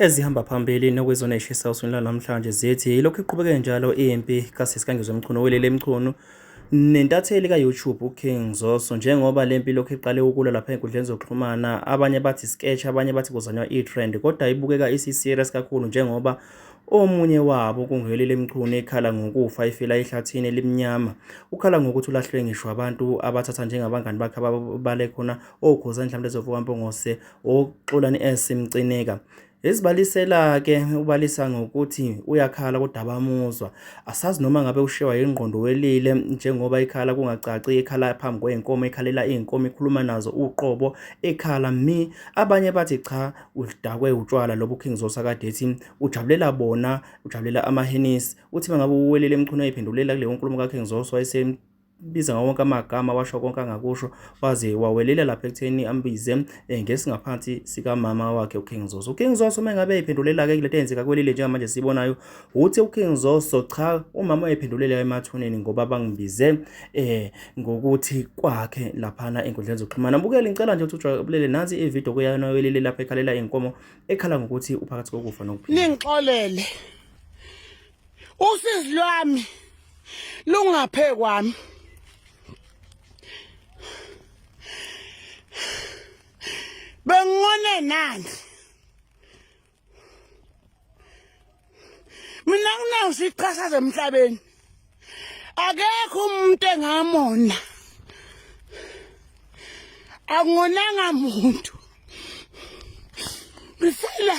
Ezihamba phambili nokwezona eshisa uswini lwanamhlanje zithi yilokhu iqhubeke njalo impi kasisi kaNgizwe Mchunu welele Mchunu nentatheli ka-YouTube uKing Zoso njengoba le mpi lokhu iqale ukulwa lapha enkundleni zokuxhumana abanye bathi sketch abanye bathi kuzanywa i-trend kodwa ibukeka isi-serious kakhulu njengoba omunye wabo kunguhelile emchunu ekhala ngokufa efela ehlathini elimnyama ukhala ngokuthi ulahlwe ngisho abantu abathatha njengabangani bakhe ababale khona okhoza mhlawumbe ezovuka mpongose uXolani S Mcineka Ezibalisela ke ubalisa ngokuthi uyakhala kodwa abamuzwa. Asazi noma ngabe ushewa yingqondo welile njengoba ikhala kungacaci ikhala phambi kwey'nkomo ikhalela iy'nkomo ikhuluma nazo uqobo ikhala mi abanye bathi cha udakwe utshwala lobu King Zosa kade ethi ujabulela bona ujabulela amahenisi uthi mangabe uwelele emchunu eyiphendulela kuleyo nkulumo ka King Zosa wayese biza ngawo wonke amagama washo konke angakusho waze wawelela lapha ekutheni ambize eh, ngesingaphansi sikamama wakhe uKing Zoso uKing Zoso uma ngabe ephendulela ke kulento eyenzeka kwelile njengamanje sibonayo uthi uKing Zoso cha umama wayephendulela emathuneni ngoba bangibize eh ngokuthi kwakhe laphana enkundleni zokuxhumana bukele ngicela nje ukuthi ujabulele nansi ivideo kuyana welile lapha ekhalela inkomo ekhala ngokuthi uphakathi kokufa nokuphila ningixolele usizi lwami lungaphe kwami bengone nani mina kunayo siqhasaza emhlabeni akekho umuntu engamona angonanga muntu bisela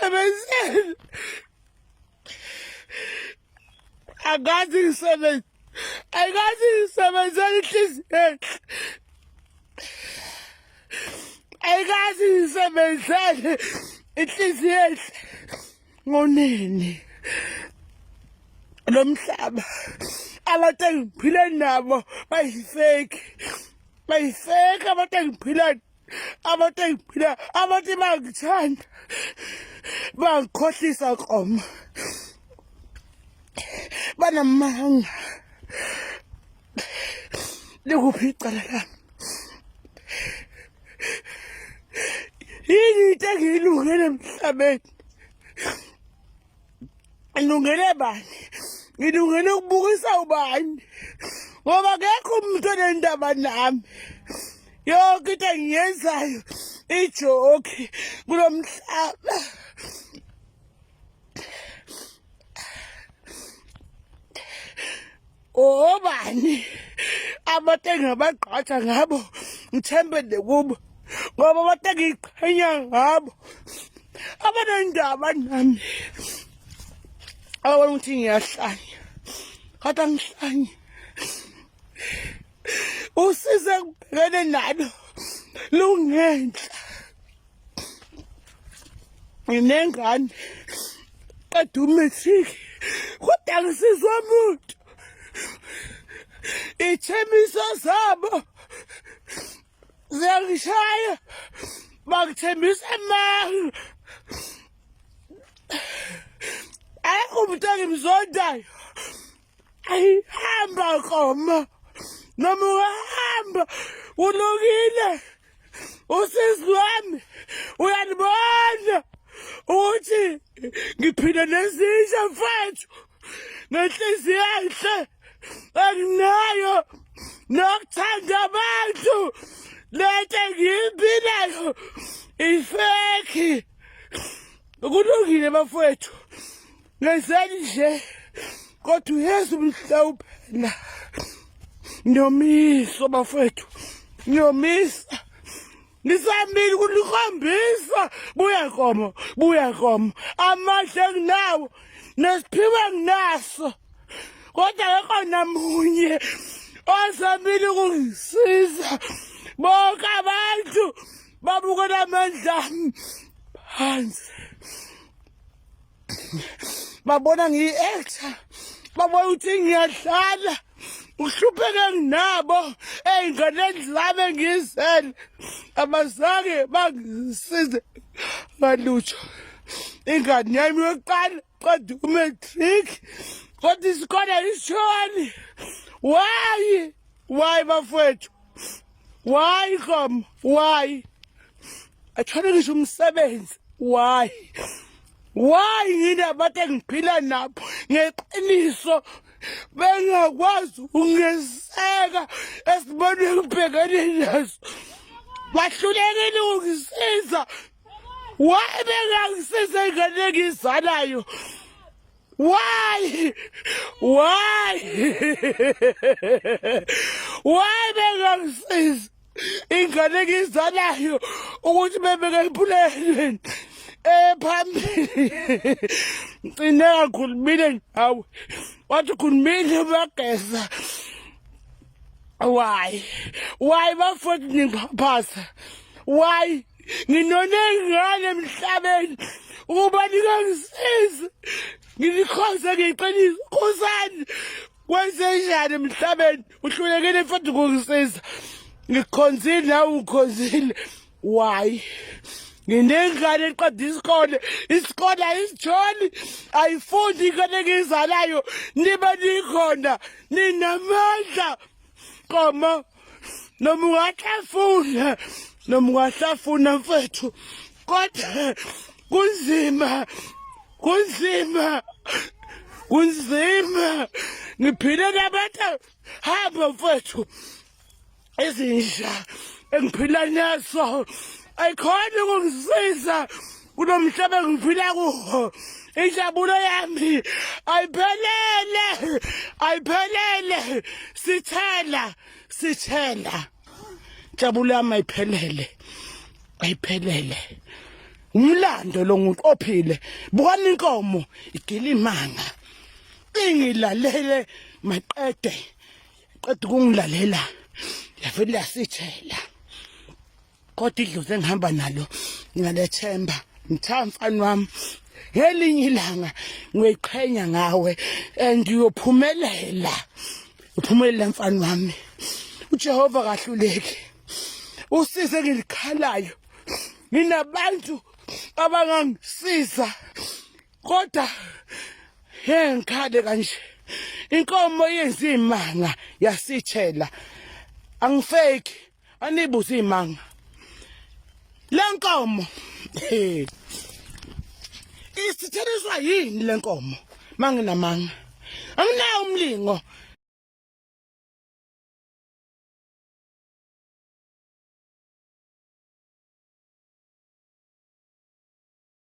Sebenzeni. Angazi ngisebenze. Angazi ngisebenzela inhliziyo enhle. Angazi ngisebenzele inhliziyo enhle. Ngonini. Lo mhlaba. Abantu engiphile nabo bayifeki. Bayifeki abantu engiphila abantu engiphila abantu bangithanda bangikhohlisa koma banamanga likuphi icala lami yini into engiyilungele emhlabeni ngilungele bani ngilungele ukubukisa ubani ngoba kekho umuntu onendaba nami yonke into engiyenzayo ijoki kulo mhlaba obani abantu engingabagqaja ngabo ngithembele kubo ngoba abantu engiyiqhenya ngabo abanendaba nami ababona ukuthi ngiyahlanya kodwa ngihlanye usize ngibhekene nalo lungenhla nginengane qeda umatric kodwa ngisizwa muntu ithembiso zabo ziyangishaya bakithembisa amanga ayikho umuntu engimzondayo Ay, hamba koma. Noma hamba. Ulungile. Usisi wami uyalibona ukuthi ngiphila nezinja mfethu ngenhliziyo enhle enginayo nokuthanda abantu lento engiyimbilayo ifeki kulungile bafowethu ngenzeni nje kodwa uyezu mhlawumbe na ngiyomiso bafethu ngiyomisa ngisambili kulikhombisa buya nkomo buya nkomo amandla enginawo nesiphiwo enginaso kodwa akekho namunye ozamile ukungisiza bonke abantu babukela amandla ami phansi babona ngiyi-actor babona ukuthi ngiyadlala uhlupheke nginabo ey'nganeni zami engiyizele abazange bangisize ngalutho ingane yami yokuqala qeda umatric kodwa isikole isishoni wayi wayi bafowethu why kom why athole ngisho umsebenzi why why yini abantu engiphila nabo ngeqiniso bengakwazi ungeseka esibone kubhekene naso bahlulekile ukungisiza why bengangisiza ingane engizalayo Why? Why? Why bengangisizi? Ingane ngizalayo ukuthi bebeke empulelweni ephambili. Ngcine kakhulumile ngawe. Wathi khulumile bageza. Why? Why bafowethu ningiphaphasa? Why? Nginonengane emhlabeni ukuba ningangisizi. Nginikhonze ngeqiniso. Khosani. Wenzenjani emhlabeni? Uhlulekile mfowethu ngokungisiza. Ngikhonzile nawe ukhonzile. why nginengane eqeda isikole isikole ayisijoli ayifundi ingane engiyizalayo nibe nikhona ninamandla qoma noma ungahlafuna noma ungahlafuna mfethu kodwa kunzima kunzima kunzima ngiphile nabantu hamba mfethu izinja engiphila naso ayikhona ukungisiza kulo mhlaba engiphila kuwo injabulo yami ayiphelele ayiphelele sithela sithela injabulo yami ayiphelele ayiphelele umlando lo muntu ophile bukani inkomo igila imanga ingilalele maqede qeda ukungilalela yavele yasithela kodwa idlozi engihamba nalo nginalethemba ngitha mfana wami ngelinye ilanga ngiyoyiqhenya ngawe and uyophumelela uphumelela mfana wami uJehova kahluleki usize ngilikhalayo nginabantu abangangisiza kodwa he ngikhale kanje inkomo yenza imanga yasithela angifeki anibuza imanga lenkomo isitheliswa yini lenkomo manginamanga anginawo umlingo